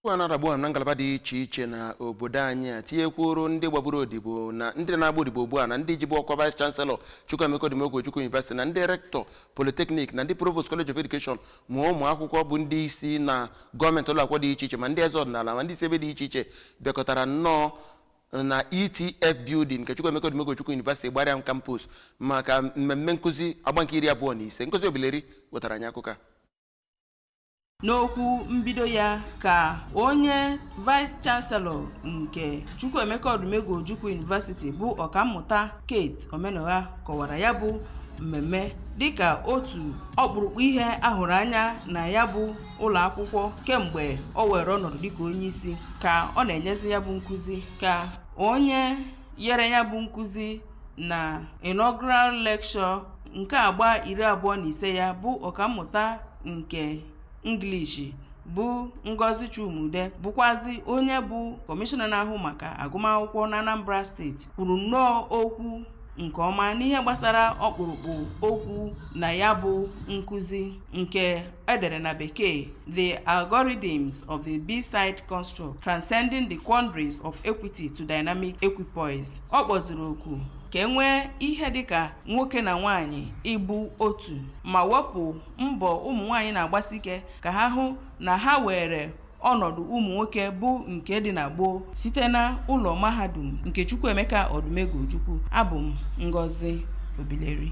Okwu a na-adagbu na ngalaba dị iche iche na obodo anyị a tinyekwuoro ndị gbaburu odibo na ndị na-agba odibo ugbu a na ndị jibu ọkwa vice chancellor Chukwuemeka Odumegwu Ojukwu University na ndị rector polytechnic na ndị provost college of education ma ụmụ akwụkwọ bụ ndị isi na gọọmenti ụlọakwụkwọ dị iche iche ma ndị eze ọdịnala ma ndị isi ebe dị iche iche bịakọtara nnọọ na ETF building nke Chukwuemeka Odumegwu Ojukwu University Igbariam campus maka mmemme nkụzi agba nke iri abụọ na ise Ngozi Obileri wetara anyị akụkọ a N'okwu mbido ya ka onye Vice Chancellor nke Chukwuemeka Odumegwu Ojukwu University bụ Ọkammụta Kate Omenụgha kọwara ya bụ mmemme dịka otu ọkpụrụkpụ ihe a hụrụ anya na ya bụ ụlọ akwụkwọ kemgbe o were ọnọdụ dịka onye isi ka ọ na-enyezi ya bụ nkụzi ka onye yere ya bụ nkụzi na inaugural lecture nke agba iri abụọ na ise ya bụ ọkammụta nke English bụ Ngozi Chuma-Udeh bụkwazi onye bụ kọmishọna na-ahụ maka agụmakwụkwọ na Anambra steeti kwuru nnọọ okwu nke ọma n'ihe gbasara ọkpụrụkpụ okwu na ya bụ nkụzi nke e dere na bekee the algorithms of the beside construct transcending the quandaries of equity to dynamic equipoise ọ kpọziri oku ka e nwee ihe dịka nwoke na nwaanyị ịbụ otu ma wepụ mbọ ụmụ nwaanyị na-agbasi ike ka ha hụ na ha weere ọnọdụ ụmụ nwoke bụ nke dị na gboo site na ụlọ mahadum nke Chukwuemeka Odumegwu Ojukwu abụ m Ngozi Obileri